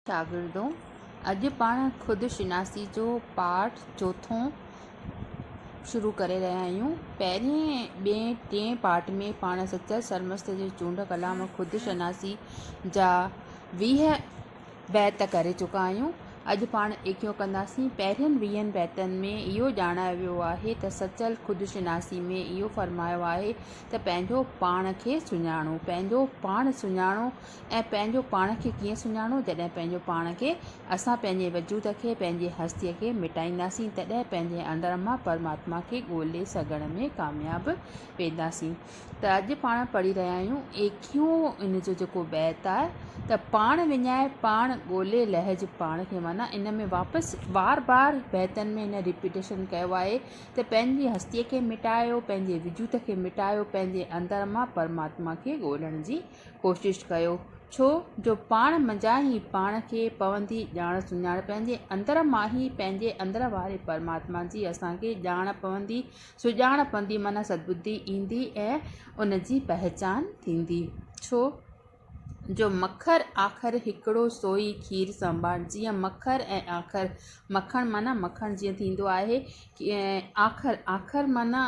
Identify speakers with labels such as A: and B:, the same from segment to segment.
A: شاگردو! اڄ پاڻ خود شناسي جو پاٺ چوٿون شروع ڪري رهيا آهيون. پهرين، ٻئين، ٽئين پاٺ ۾ پاڻ سچل سرمست جي چونڊ ڪلام خود شناسي جا ويهه بيت ڪري چڪا آهيون. اڄ پاڻ ايڪيون ڪنداسين. پهرين ويهن بيتن ۾ اهو ڄاڻايو ويو آهي ته سچل خود شناسي ۾ اهو فرمايو آهي ته پنهنجو پاڻ کي سڃاڻو، پنهنجو پاڻ سڃاڻو، ۽ پنهنجو پاڻ کي ڪيئن سڃاڻو؟ جڏهن پنهنجو پاڻ کي، اسان پنهنجي وجود کي، پنهنجي هستيء کي مٽائينداسين، تڏهن پنهنجي اندر مان پرماتما کي ڳولي سگهڻ ۾ ڪامياب وينداسين. ته اڄ پاڻ پڙهي رهيا آهيون، ايڪيهون ان جو جيڪو بيت آهي ته پاڻ وڃائي پاڻ ڳولي لهج پاڻ کي معنيٰ ان ۾ واپس بار بار بيتن ۾ هن ريپيٽيشن ڪيو آهي ته پنهنجي هستيء کي مٽايو، پنهنجي وجود کي مٽايو، پنهنجي اندر مان پرماتما کي ڳولڻ جي ڪوشش ڪيو، ڇو جو پاڻ منجهان ئي پاڻ کي پوندي ڄاڻ سڃاڻ، پنهنجي اندر مان ئي پنهنجي اندر واري پرماتما جي اسان کي ڄاڻ پوندي، سڄاڻ پوندي معنيٰ سدٻڌي ايندي ۽ ان جي پهچان ٿيندي، ڇو جو مکر آکر هڪڙو سوئي کير سنڀان، جيئن مکر ۽ آکر، مکڻ معنيٰ مکڻ جيئن ٿيندو آهي، آکر، آکر معنيٰ.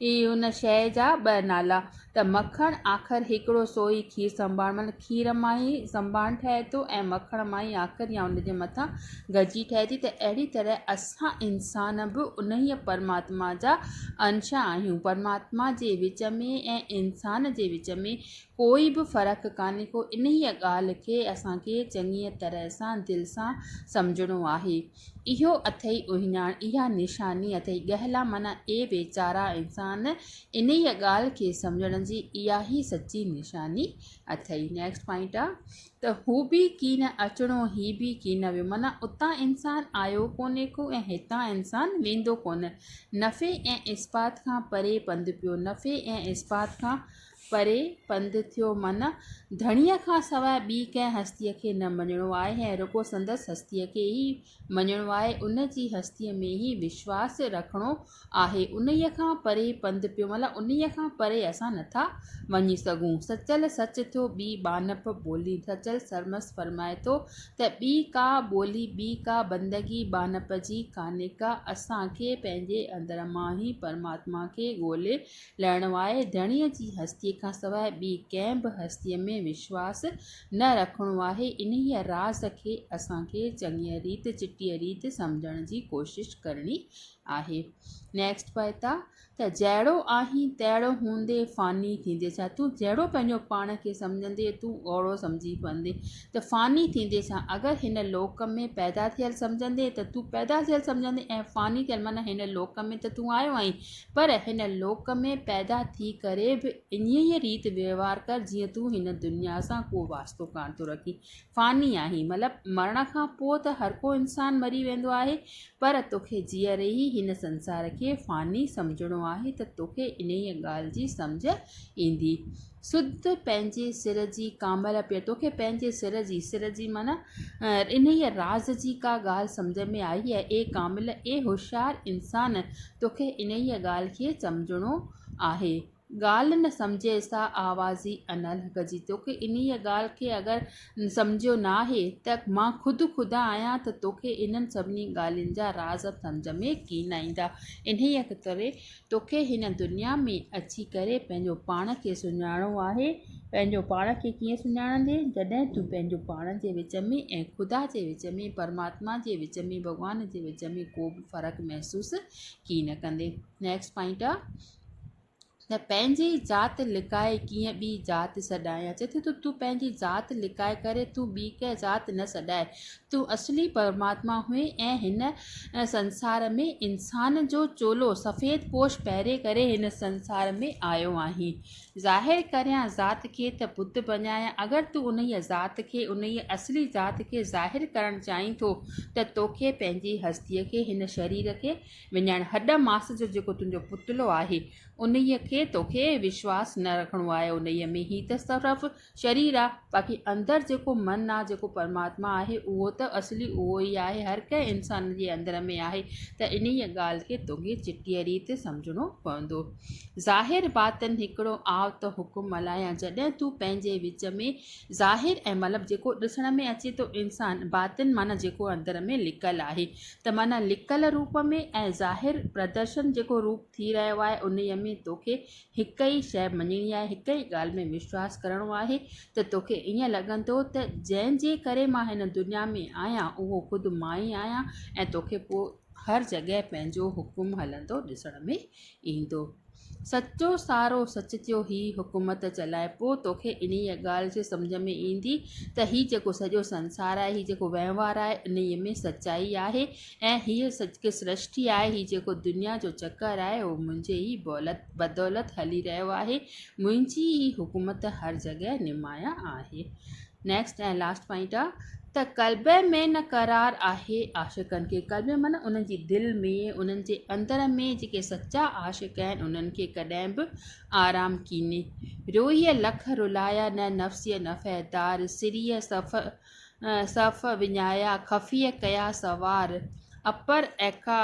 A: هي ان شيء جا ٻه نالا ته مکڻ آخر هڪڙو سو ئي کير سنڀاڻ مطلب کير مان ئي سنڀاڻ ٺهي ٿو ۽ مکڻ مان ئي آخر يا ان جي مٿان گجي ٺهي ٿي ته اهڙي طرح اسان انسان به انهيء پرماتما جا انش آهيون پرماتما جي وچ ۾ ۽ انسان جي وچ ۾ ڪوئي به فرق ڪانهي ڪو انهيء ڳالهه کي اسان کي چڱيء طرح سان دل سان سمجهڻو آهي. اهو اٿئي اهڃاڻ، اها نشاني اٿئي ڳهلا معنيٰ اي ويچارا انسان، انهيء ڳالهه کي سمجهڻ جي اهائي سچي نشاني اٿئي. Next Point آ ته هو به ڪين اچڻو هي به ڪين ويو معنيٰ اتان انسان آيو ڪونهي ڪو ۽ هتان انسان ويندو ڪونه. نفي ۽ اثبات کان پري پنڌ پيو، نفي ۽ اثبات کان پري پنڌ ٿيو من ڌڻيء کان سواء ٻي ڪنهن هستيء کي نه مڃڻو آهي ۽ رڳو سندس هستيء کي ئي مڃڻو آهي، ان جي هستيء ۾ ئي وشواس رکڻو آهي، انهيء کان پري پنڌ پيو مطلب انهيء کان پري اسان نٿا وڃي سگهون. سچل سچ ٿيو ٻي ٻانهپ ٻولي سچل سرمست فرمائي ٿو ته ٻي ڪا ٻولي ٻي ڪا بندگي ٻانهپ جي ڪانهيڪا اسان کي پنهنجي اندر مان ئي پرماتما کي ڳولي لهڻوآهي، ڌڻيء جي هستيء کان سواء ٻي ڪنهن به هستيء ۾ وشواس نه رکڻو آهي، انهيء راز کي اسان کي چڱيء ريت چٽيء ريت سمجهڻ جي ڪوشش ڪرڻي آهي. Next Paita، ته جهڙو آهين تهڙو هوندي فاني ٿيندي ڇا؟ تون جهڙو پنهنجو پاڻ کي سمجهندي، تون اوڙو سمجهي پوندي ته فاني ٿيندي ڇا؟ اگر هن لوڪ ۾ پيدا ٿيل سمجهندي ته تون پيدا ٿيل سمجهندي ۽ فاني ٿيل معنيٰ هن لوڪ ۾ ته تون آيو آهين پر هن لوڪ ۾ پيدا ٿي ڪري به انهيء ريت وهنوار ڪر جيئن تون هن دنيا سان ڪو واسطو ڪانه ٿو رکين. فاني آهين مطلب مرڻ کان پوء ته هر ڪو انسان مري ويندو آهي پر توکي جيئري ئي هن سنسار کي فاني سمجهڻو آهي ته توکي انهيء ڳالهه جي سمجهه ايندي. سڌ پنهنجي سر جي ڪامل پير توکي پنهنجي سر جي، سر جي معنيٰ انهيء راز جي ڪا ڳالهه سمجهه ۾ آئي اي ڪامل، اي هوشيار انسان توکي انهيء ڳالهه کي سمجهڻو آهي. ڳالهه نه سمجهي سا آوازي نه لکجي. توکي انهيء ڳالهه کي اگر سمجهيو ناهي ته مان خود خدا آهيان ته توکي انهن سڀني ڳالهين جا راز سمجهه ۾ ڪين ايندا. انهيء ڪري توکي هن دنيا ۾ اچي ڪري پنهنجو پاڻ کي سڃاڻڻو آهي. پنهنجو پاڻ کي ڪيئن سڃاڻندي؟ جڏهن تون پنهنجو پاڻ جي وچ ۾ ۽ خدا جي وچ ۾، پرماتما جي وچ ۾، ڀڳوان جي وچ ۾ ڪو به فرق محسوس ڪين نه ڪندي. Next Point آ ته پنهنجي ذات لڪائي ڪيئن ٻي ذات سڏائين. اچي ٿو ته تون پنهنجي ذات لڪائي ڪري تون ٻي ڪنهن ذات نه سڏائي. تون اصلي پرماتما هئين ۽ هن سنسار ۾ انسان جو چولو، سفيد پوش، پهري ڪري هن سنسار ۾ آيو آهين. ظاهر ڪريان ذات کي ته بت بنايان اگر تون انهيء ذات کي، انهيء اصلي ذات کي ظاهر ڪرڻ چاهين ٿو ته توکي پنهنجي هستيء کي، هن شرير کي وڃائڻ، هڏ ماس جو جيڪو تنهنجو پتلو آهي، انهيء کي توکي وشواس نه رکڻو آهي، انهيء ۾ هي تصرف شرير آ باقي اندر جيڪو من آ جيڪو پرماتما آهي اهو ته اصلي اهو ئي آهي هر ڪنهن انسان جي اندر ۾ آهي ته انهيء ڳالهه کي توکي چٽيء ريت سمجهڻو پوندو ظاهر باطن هڪڙو آء ته حڪم ملهايان جڏهن تون پنهنجي وچ ۾ ظاهر ۽ مطلب جيڪو ڏسڻ ۾ اچي ٿو انسان باطن معنيٰ جيڪو اندر ۾ لڪل آهي ته معنيٰ لڪل روپ ۾ ۽ ظاهر پردرشن جيڪو روپ ٿي رهيو آهي انهيء ۾ توکي هڪ ئي شيء مڃڻي آهي، هڪ ئي ڳالهه ۾ وشواس ڪرڻو آهي ته توکي ائين لڳندو ته جنهن جي ڪري مان هن دنيا ۾ آهيان، اهو خود مان ئي آهيان ۽ توکي پوء هر جڳهه پنهنجو حڪم هلندو ڏسڻ ۾ ايندو. سچو سارو سچ ٿيو هي حڪومت چلائي، پوء توکي انهيء ڳالهه جي سمجهه ۾ ايندي ته هي جيڪو سڄو سنسار آهي، هي جيڪو وهنوار آهي، انهيء ۾ سچائي آهي ۽ هيء جيڪو سرشتي آهي، هيء جيڪو دنيا جو چڪر آهي، اهو منهنجي ئي بدولت هلي رهيو آهي، منهنجي ئي حڪومت هر جڳهه نمايان آهي. Next ۽ Last Point آ ته قلبي ۾ نه قرار آهي عاشقن کي، قلبي معنيٰ انهن جي دل ۾، انهن جي اندر ۾، جيڪي سچا عاشق آهن، انهن کي ڪڏهن به آرام ڪيني. روئي لک رلايا نه نفسيء نفع دار، سريء صفا صف وڃايا خفيء ڪيا سوار، اپر ايڪا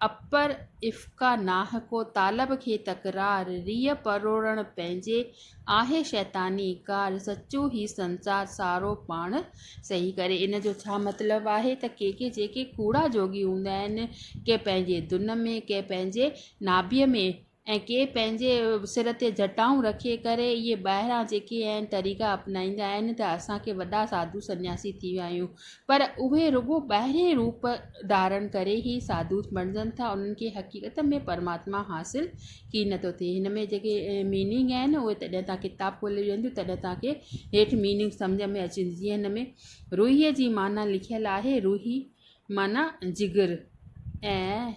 A: اپر افقا ناھ ڪو طالب کي تڪرار، ريء پروڙڻ پنهنجي آهي شيطاني ڪار، سچو هي سنسار سارو پاڻ سهي ڪري. ان جو ڇا مطلب آهي ته ڪي ڪي جيڪي ڪوڙا جوڳي هوندا آهن، ڪي پنهنجي دن ۾، ڪي پنهنجي نابيء ۾، ۽ ڪي پنهنجي سر تي جٽائون رکي ڪري اهي ٻاهران جيڪي اهي طريقا اپنائيندا آهن ته اسان کي وڏا ساڌو سنياسي ٿي ويا آهيون پر اهي رڳو ٻاهرين روپ ڌارڻ ڪري ئي ساڌو بڻجن ٿا انهن کي حقيقت ۾ پرماتما حاصل ڪي نٿو ٿئي هن ۾ جيڪي ميننگ آهن اهي جڏهن توهان ڪتاب کولي ويهنديون تڏهن توهان کي هيٺ ميننگ سمجهه ۾ اچي ويندي جيئن هن ۾ روحيء جي معنيٰ لکيل آهي روحي معنيٰ جگر ۽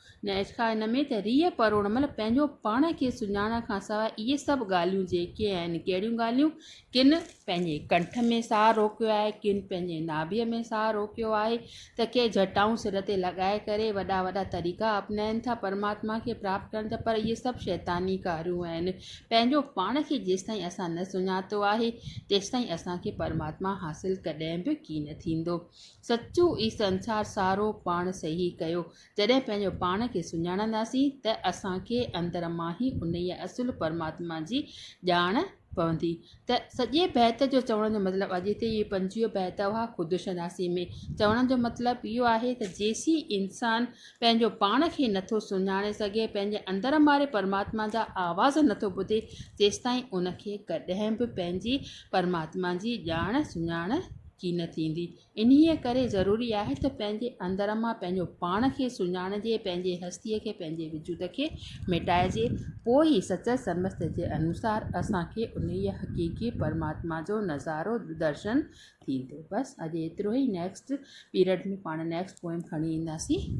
A: نه ارقا ان ۾ ته ريء پر ان مهل پنهنجو پاڻ کي سڃاڻڻ کان سواء اهي سڀ ڳالهيون جيڪي آهن ڪهڙيون ڳالهيون ڪن پنهنجي ڪنٺ ۾ ساهه روڪيو آهي ڪن پنهنجي ناڀيء ۾ ساهه روڪيو آهي ته ڪي جٽائون سر تي لڳائي ڪري وڏا وڏا طريقا اپنائين ٿا پرماتما کي پراپت ڪرڻ جا پر اهي سڀ شيطاني ڪاريون آهن پنهنجو پاڻ کي جيستائين اسان نه سڃاتو آهي تيستائين اسان کي پرماتما حاصل ڪڏهن به ڪين ٿيندو سچو ئي سنسار سارو پاڻ صحيح ڪيو جڏهن پنهنجو پاڻ کي سڃاڻنداسين ته اسان کي اندر مان ئي انهيء اصل پرماتما جي ڄاڻ پوندي ته سڄي بيت جو چوڻ جو مطلب اڄ هتي اهي پنجويهه بيت هئا خود شناسي ۾ چوڻ جو مطلب اهو آهي ته جيسين انسان پنهنجو پاڻ کي نٿو سڃاڻي سگهي پنهنجي اندر ماري پرماتما جا آواز نٿو ٻڌي تيستائين ان کي ڪڏهن به پنهنجي پرماتما جي ڄاڻ سڃاڻ ڪين ٿيندي انهيء ڪري ضروري آهي ته پنهنجي اندر مان پنهنجو پاڻ کي سڃاڻجي، پنهنجي هستيء کي، پنهنجي وجود کي ميٽائجي، پوء ئي سچل سمسته جي انوسار اسان کي انهيء حقيقي پرماتما جو نظارو، درشن، ٿيندو. بس اڄ ايترو ئي نيڪسٽ پيرڊ ۾ پاڻ نيڪسٽ پوئم کڻي اينداسين.